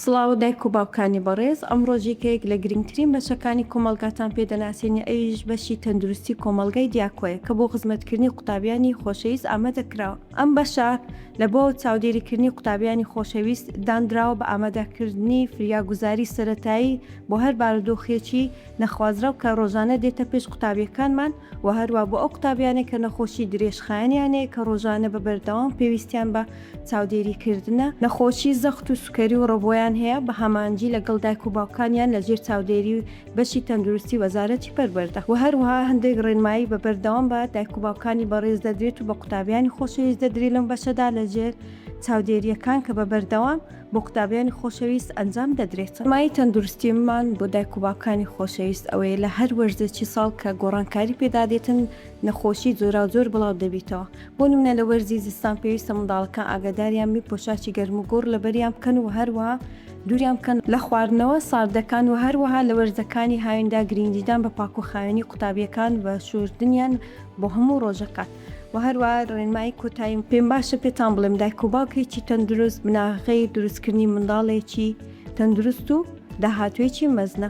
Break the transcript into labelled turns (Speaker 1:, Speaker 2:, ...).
Speaker 1: سڵاو دایک و باوکانی بەڕێز، ئەمڕۆ جێگەیەک لە گرنگترین بەشەکانی کۆمەڵگاتان پێ دەناسێنی ئەویش بەشی تەندروستی کۆمەڵگای دیاکۆیە کە بۆ خزمەتکردنی قوتابیانی خۆشەویست ئامادە کراوە. ئەم بەشە لە بۆ چاودێریکردنی قوتابیانی خۆشەویست داندراوە بە ئامادەکردنی فریاگوزاری سەرەتایی بۆ هەر بارودۆخێکی نەخوازراو کە ڕۆژانە دێتە پێش قوتابیەکانمان و هەروا بۆ ئەو قوتابیانەی کە نەخۆشی درێژخایەنیان هەیە کە ڕۆژانە بە بەردەوام پێویستیان بە چاودێری کردنە. نەخۆشی زەخت و سوکەری و ڕبۆیان هەیە، بە هەمانجی لەگەڵ دایک و باوکانیان لە ژێر چاودێری بەشی تەندروستی وەزارەتی پەروەردە و هەروەها هەندێک ڕێنمایی بە بەردەوام بە دایک و باوکانی بەڕێز دەدرێت و بە قوتابیانی خۆشەویست دەدرێت لەم بەشەدا لە ژێر چاودێرییەکان کە بە بەردەوام بۆ قوتابیانی خۆشەویست ئەنجام دەدرێت. ڕێنمایی تەندروستیمان بۆ دایک و باوکانی خۆشەویست ئەوەیە لە هەر وەرزێکی ساڵ کە گۆڕانکاری پێدادێتن نەخۆشی جۆراوجۆر بڵاو دەبیتەوە، بۆ نمونە لە وەرزی زستان پێویستە منداڵەکان ئاگاداریان بی پۆشاچی گەرم و گوڕ لەبەریان بکەن و هەروەها دوریان بکەن لە خواردنەوە ساردەکان و هەروەها لە وەرزەکانی هاویندا گرینگیدان بە پاک و خاوێنی قوتابیەکان و شوردنیان بۆ هەموو ڕۆژەکان و هەروە ڕێنمایی کۆتایی پێم باشە پێتان بڵێم دایک و باوکێکی تەندروست بناغەی دروستکردنی منداڵێکی تەندروست و داهاتوێکی مەزنە.